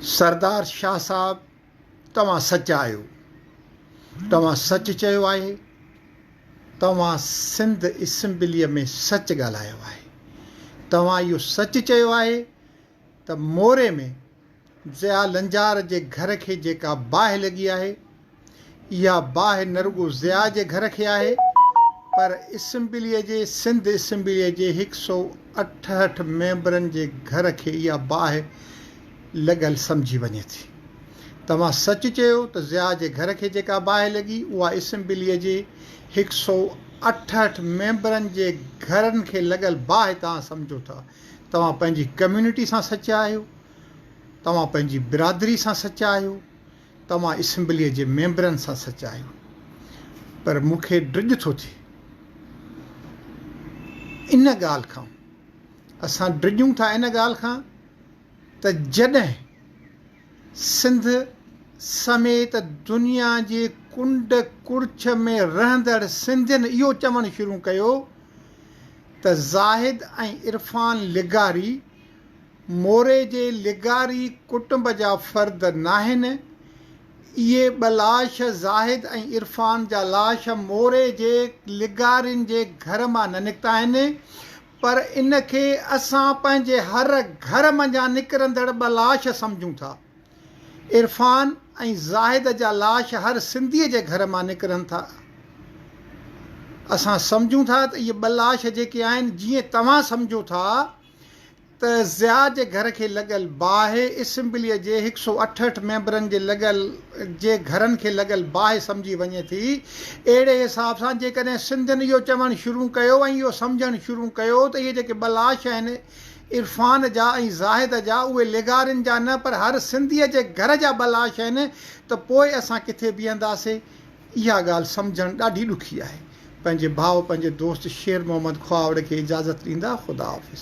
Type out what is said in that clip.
سردار شاهه صاحب توهان سچا آهيو توهان سچ چيو آهي توهان سنڌ اسمبلي ۾ سچ ڳالهايو آهي توهان اهو سچ چيو آهي ته موري ۾ ضياء لنجار جي گهر کي جيڪا باهه لڳي آهي اها باهه نه رڳو ضياء جي گهر کي آهي پر اسمبليء جي سنڌ اسمبليء جي هڪ سئو اٺهٺ ميمبرن جي گهر کي اها باهه لڳل سمجهي وڃي ٿي. توهان سچ چيو ته ضياء جي گهر کي جيڪا باهه لڳي اها اسمبليء جي هڪ سئو اٺهٺ ميمبرن جي گهرن کي لڳل باهه توهان سمجهو ٿا. توهان پنهنجي ڪميونٽي سان سچا آهيو. توهان پنهنجي برادري سان سچا آهيو. توهان اسيمبليء جي ميمبرن سان سچ آهيو، پر مون کي ڊڄ ٿو ٿئي ان ڳالهه کان. اسان ڊڄون ٿا ان ڳالهه کان ته جڏهن سنڌ سميت دنيا جي ڪنڊ ڪڙڇ ۾ رهندڙ سنڌين اهو چوڻ شروع ڪيو ته زاهد ۽ عرفان لغاري موري جي لغاري ڪٽنب جا فرد ناهن. اهي ٻه لاش زاهد ۽ عرفان جا لاش موري جي لغارين جي گهر مان نه نڪتا آهن پر ان کي اسان پنهنجي هر گهر منجهان نڪرندڙ ٻه لاش سمجهون ٿا. عرفان ۽ زاهد جا لاش هر سنڌي جي گهر مان نڪرن ٿا. اسان سمجهون ٿا ته اهي ٻه لاش جيڪي آهن جيئن توهان سمجهو ٿا. ته ضياء جي گهر کي لڳل باهه اسمبليء جي هڪ سؤ اٺهٺ ميمبرن جي لڳل جي گهرن کي لڳل باهه سمجهي وڃي ٿي. اهڙي حساب سان جيڪڏهن سنڌين اهو چوڻ شروع ڪيو ۽ اهو سمجهڻ شروع ڪيو ته اهي جيڪي ٻه لاش آهن عرفان جا ۽ زاهد جا اهي لغارين جا نه پر هر سنڌيء جي گهر جا ٻه لاش آهن ته پوء اسان ڪٿي بيهنداسين؟ اها ڳالهه سمجهڻ ڏاڍي ڏکي آهي. پنهنجي ڀاء پنهنجي دوست شير محمد کهاوڙ کي اجازت ڏيندا خداحافظ.